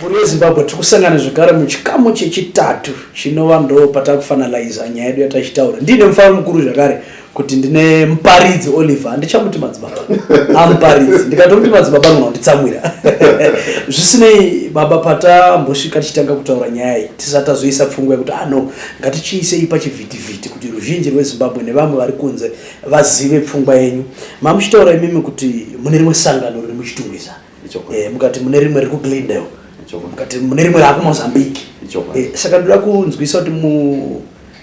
Mhuri yeZimbabwe tiri kusangana zvekare muchikamu chechitatu chinova ndo patakufanaliza nyaya yedu yatachitaura. Ndine mufaro mukuru zvakare kuti ndine muparidzi Oliver, handichamuti madzibaba, amuparidzi. Ndikatomuti madzibaba munhu wanditsamwira. Zvisinei baba, patambosvika tichitanga kutaura nyaya iyi, tisati tazoisa pfungwa yekuti ah no, ngatichiisei pachivhitivhiti kuti ruzhinji rweZimbabwe nevamwe vari kunze vazive pfungwa yenyu mamuchitaura imimi kuti mune rimwe sangano riri muchitungwiza eh, mukati mune rimwe riri kuglendale mukati mune rimwe raakumozambique eh, saka ndoda kunzwisa kuti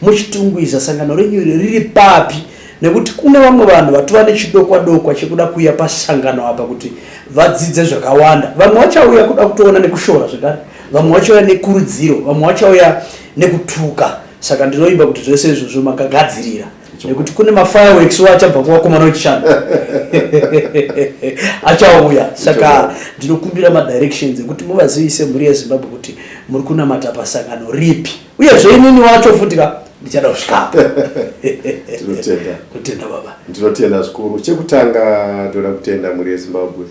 muchitungwiza sangano renyu riri papi nekuti kune vamwe vanhu vatova nechidokwa dokwa chekuda kuuya pasangano apa kuti vadzidze zvakawanda vamwe vachauya kuda kutoona nekushora zvekare vamwe vachauya nekurudziro vamwe vachauya nekutuka saka ndinoimba kuti zvese izvozvo makagadzirira nekuti kune mafireworks wo achabva kuvakomana wechishanu achauya saka ndinokumbira madirections ekuti muvazivise mhuri yezimbabwe kuti muri kunamata pasangano ripi uyezve inini wacho futi ka ndichada kusvikapo tinotenda kutenda baba ndinotenda zvikuru chekutanga ndoda kutenda mhuri yezimbabwe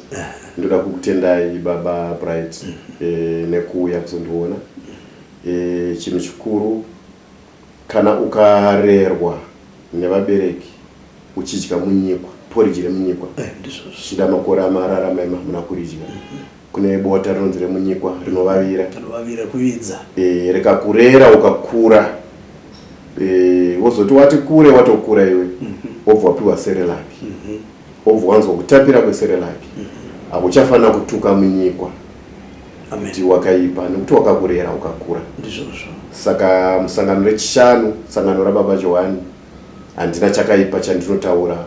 ndoda kukutendai baba bright mm -hmm. e, nekuuya kuzondiona e, chinhu chikuru Kana ukarerwa nevabereki uchidya munyikwa poriji remunyikwa eh, zvichida makore amarara maima hamuna kuridya mhm. kune bota rinonzi remunyikwa rinovavira eh, rikakurera ukakura eh, wozoti wati kure watokura iwe mhm. wobva wapiwa serelaki mhm. wobva wanzwa kutapira kweserelaki akuchafanira kutuka munyikwa kuti wakaipa nekuti wakakurera ukakura ndizvozvo saka musangano rechishanu sangano rababa johani handina chakaipa chandinotaura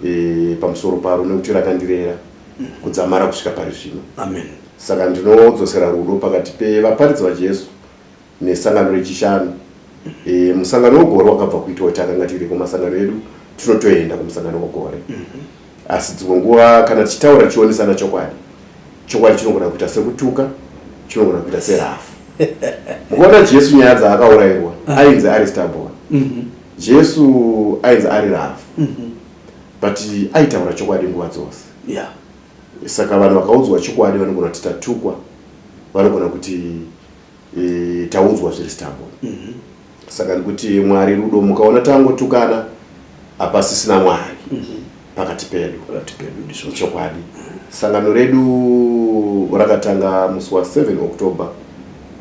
e, pamusoro paro nekuti rakandirera mm. kudzamara kusvika pari zvino amen saka ndinodzosera rudo pakati pevaparidzi vajesu nesangano rechishanu e, musangano wegore wakabva kuitwa takanga tiriko masangano edu tinotoenda kumusangano wegore mhm. asi dzimwe nguva kana tichitaura tichionesana chokwadi chokwadi chinogona kuita sekutuka chinogona kuita serafu mukuona jesu nyaya dzaakaurairwa ah. ainzi ari stabon mhm. jesu ainzi ari rafu mhm. but aitaura chokwadi nguva dzose saka vanhu vakaudzwa chokwadi vanogona kuti tatukwa vanogona kuti e, taudzwa zviri stambo mm -hmm. saka ndikuti mwari rudo mukaona tangotukana hapasisina mwari mm -hmm. pakati pedu pakati pedu ndizvo chokwadi mm -hmm. sangano redu rakatanga musi wa 7 october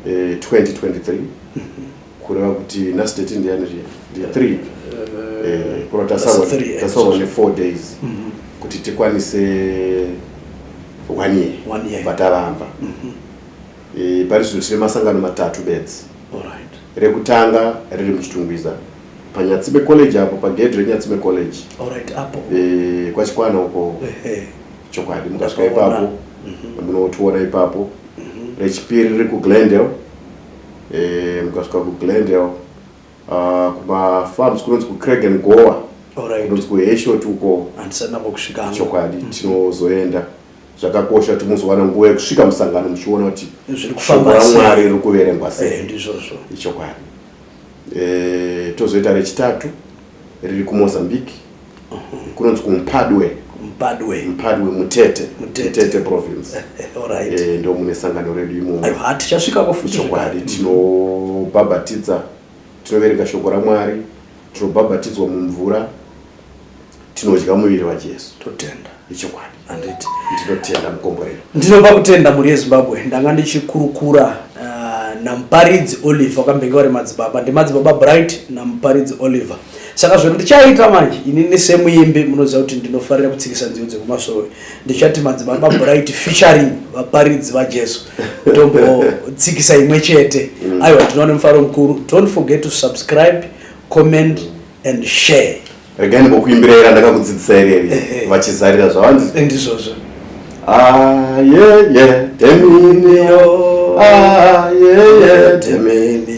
e, eh, 2023 mm -hmm. kureva kuti nhasi date ndiyani zviya ndiya 3 eh, eh, kura tasawa ne 4 days mm -hmm. kuti tikwanise one year, one year. vataramba mm -hmm. E, pari zvino tine masangano matatu bedzi. Alright. Rekutanga riri muChitungwiza paNyatsime College apo pagedhi reNyatsime College. Alright, apo. E, kwaChikwana uko. Ehe. Chokwadi mukasvika ipapo mhm. munotiona mm -hmm. ipapo. Mm -hmm. Rechipiri riri kuGlendale. E, mukasvika kuGlendale uh, ah, kumafarms kunonzi kuCraig and Goa. Alright. Kunonzi kuHeshot uko. Andisana kusvika. Chokwadi mm -hmm. tinozoenda. zvakakosha kuti muzowana nguva yekusvika musangano muchiona kuti zviri kufamba mwari riri kuverengwa sei eh, ndizvozvo ichokwadi e, tozoita rechitatu riri kumozambique uh -huh. kunonzi kumpadwe mpadwe mpadwe mutete mutete province right. e, eh, ndo mune sangano redu imomo hatichasvikako futi chokwadi tinobhabhatidza mm -hmm. Tinoverenga shoko raMwari, tinobhabhatidzwa mumvura, tinodya muviri waJesu. Totenda. Ichokwadi. Anditi. Ndinotenda mukomborero. Ndinopa kutenda mhuri yeZimbabwe. Ndanga ndichikurukura uh, naMuparidzi Oliver wakambenge vari madzibaba. Ndimadzibaba Bright naMuparidzi Oliver. Saka zvinhu ndichaita manje, inini semuimbi munoziva kuti ndinofarira kutsikisa nziyo dzekumasvowe. ndichati madzibaba bright featuring vaparidzi vajesu tombotsikisa imwe chete mm. aiwa tinoone mufaro mukuru don't forget to subscribe comment and share regai ndimbokuimbira ira ndakakudzidzisa ireri eh, eh. vachizarira zvavanzi eh, ndizvozvo ayeye ah, teminiyo ayeye ah, temini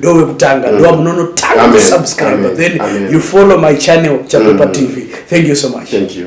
ndowekutanga mm. ndiwa munonotanga kusubscribe then you follow my channel chapepa mm. tv thank you so much thank you